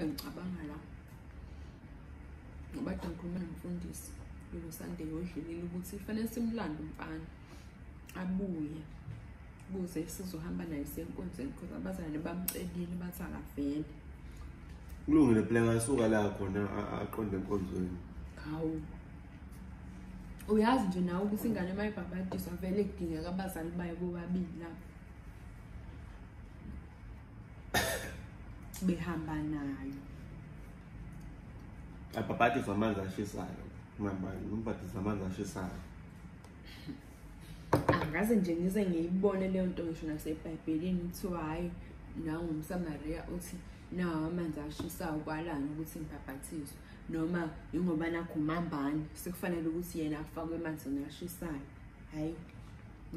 engicabanga la ngoba kade ngikhuluma nomfundisi yolosande yodlulile ukuthi kufanele simlande umfana abuye kuze sizohamba naye senkonzweni because abazalwane bamcelile bathi akavele kulungile phela ngasuka la khona aqonde enkonzweni hawu uyazi nje nawe ukuthi ingane uma ibhabhadiswa vele kudingeka abazali bayo bobabili lapho behamba nayo abhabhadiswa amanzi ashisayo mambani umbhadisa amanzi ashisayo angaze nje ngize ngiyibone leyo nto ngisho nasebhayibhelini kuthiwa hhayi nangumsamariya uthi nawo amanzi ashisayo kwalani ukuthi ngibhabhathizwe noma yingoba nakhumambani sekufanele ukuthi yena afakwe emanzini ashisayo hhayi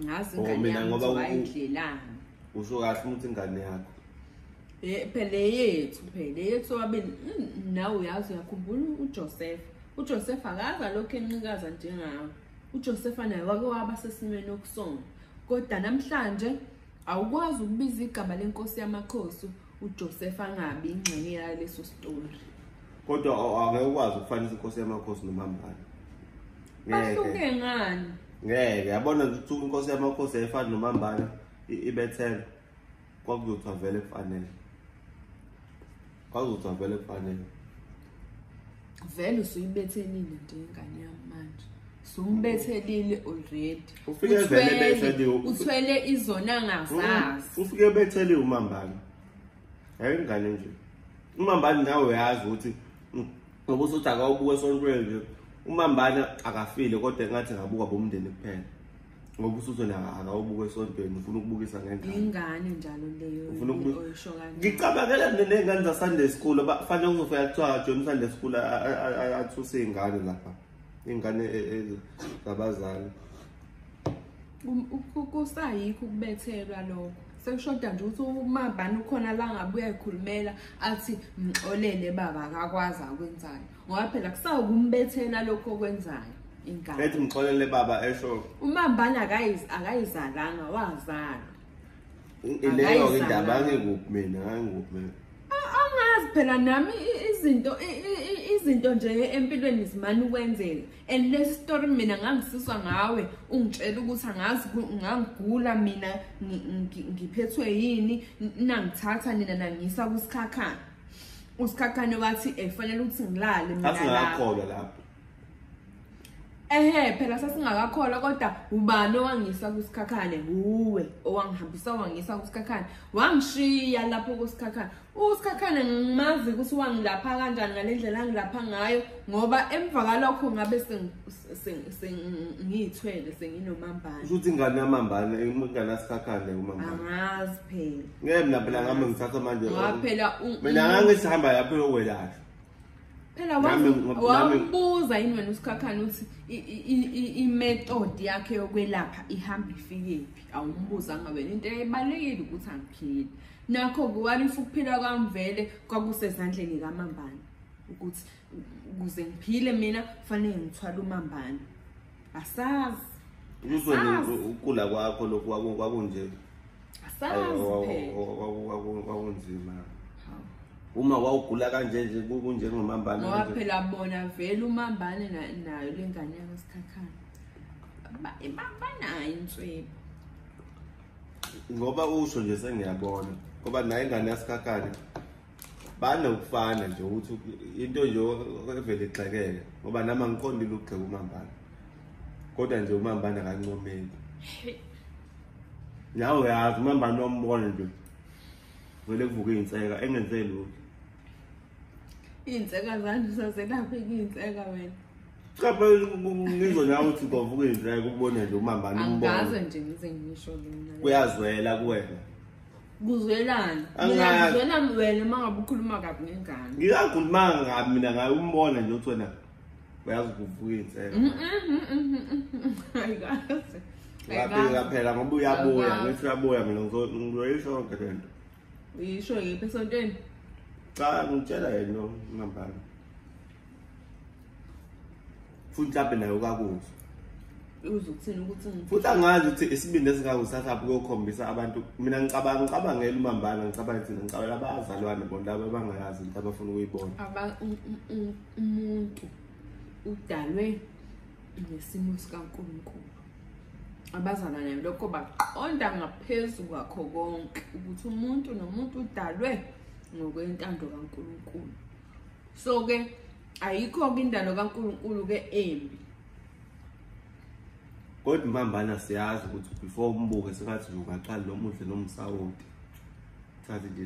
ngazi oh, ingane yami ngoba wayidlelani usho kahle ukuthi ingane yakho eh, phela yethu phela yethu wabeni mm, nawe uyazi uyakhumbula uJoseph uJoseph akaza lokho enqikaza njengawe uJoseph naye wake waba sesimeni okusona kodwa namhlanje awukwazi ukubiza igama lenkosi yamakhosi uJoseph angabi ingxenye yaleso story kodwa angeke ukwazi ukufanisa inkosi yamakhosi nomambala ngeke ngani ngeke yabona ukuthi inkosi yamakhosi yayifani nomambala ibethela kwakuzothiwa vele kufanele kwakuzothiwa vele kufanele vele usuyibethelile nje ingane yami manje sumbethelile already ufike vele bethele uthwele izona ngazazi mm, ufike bethele umambala hayi ingane nje umambala nawe uyazi ukuthi ngoba usuthi akawubuke esontweni nje umambane akafile kodwa engathi ngabuka bomndeni kuphela ngoba usuthi na akawubuke esontweni ufuna ukubukisa ngendlela ingane njalo leyo ufuna ukubukisa oyisho kanje ngicabangela nezingane za Sunday school abafanele uzofika kuthiwa join Sunday school athuse izingane lapha ingane e, e, zabazali kusayikho ukubethelwa lokho sekushoda nje ukuthi umabani ukhona la ngabe uyayikhulumela athi mxolele baba akakwazi akwenzayo ngoba phela kusawukumbethela lokho okwenzayo ingane ethi mxolele baba esho umambani akayizalanga wazalwa ileyo ke indaba angikuphi mina angikuphi mina angazi phela nami izinto izinto nje empilweni zimane ukwenzeka and le story mina ngangisizwa ngawe ungitshela ukuthi angazi ngangigula mina ngiphethwe yini nangithatha nina nangisa kusikhakhane usikhakhane wathi efanele ukuthi ngilale mina lapho lapho ehe phela sasingakakholwa kodwa ubani owangisa kusikhakhane wuwe owangihambisa wangisa kusikhakhane wangishiya lapho kusikhakhane uSikhakhane ngimazi ukuthi wangilapha kanjani ngalendlela angilapha ngayo ngoba emva kalokho ngabe sengiyithwele senginomambane ukuthi ingane yamambane ingane yasikhakhane umambane angazi phela ngeke mina phela ngami ngithatha manje waphela mina ngangisihamba lapho yokwelashwa phela wambuza yini wena usikhakhane ukuthi i-method yakhe yokwelapha ihamba ifikephi awumbuzanga wena into ebalulekile ukuthi angiphili nakho kuwalisa ukuphila kwami vele kwakusezandleni kamambane ukuthi ukuze ngiphile mina kufanele ngithwale umambane asazi ukugula kwakho lokhu kwakunje kwakunzima uma wawugula kanje nje kunjengomambane ngoba phela bona vele umambane nayo le ngane yakasikhakhana banayo inswebo ngoba usho nje sengiyabona ngoba naye ingane yasikhakhane banokufana nje ukuthi into nje evele igxekeke ngoba nami angiqondile ukugxeka umambana kodwa nje umambana akancomeki nawe uyazi umambana wambona nje vele kuvuke iy'nseka engenzeli lutho iy'nseka zanje usazelaphi kuy'nseka wena cha phela ngizwe nawe ukuthi kwavuka iy'nseka ukubona nje umambani umboangaze nje ngize ngisho lona kuyazwela kuwena kuzwelana ngizwela wena uma ngabe ukhuluma kabi ngengane ngikakhuluma kabi mina ngaye umbona nje ukuthi wena uyazi kuvuka iy'nseka ayikaze ngaphela ngaphela ngoba uyabuya ngithi uyabuya mina ngizoyisho yonke le nto uyisho ngiphi esontweni cha ngitshela yena ngihambana futhi mhlawumbe naye ukakuzwa uze ukuthini ukuthi futhi angazi ukuthi isibindi esingako sasaphi kokhombisa abantu mina ngicabanga ngicabangela umambana ngicabanga ukuthi ngicabangela abazalwane bona laba abangayazi into abafuna ukuyibona umuntu udalwe ngesimo sikaNkulunkulu abazana nayo lokho baqonda ngaphezu kwakho konke ukuthi umuntu nomuntu udalwe ngokwentando kaNkulunkulu so ke ayikho ke indalo kaNkulunkulu ke embi kodwa impambana siyazi ukuthi before umbuke sengathi ungaqali nomuhle nomsawoti thathe nje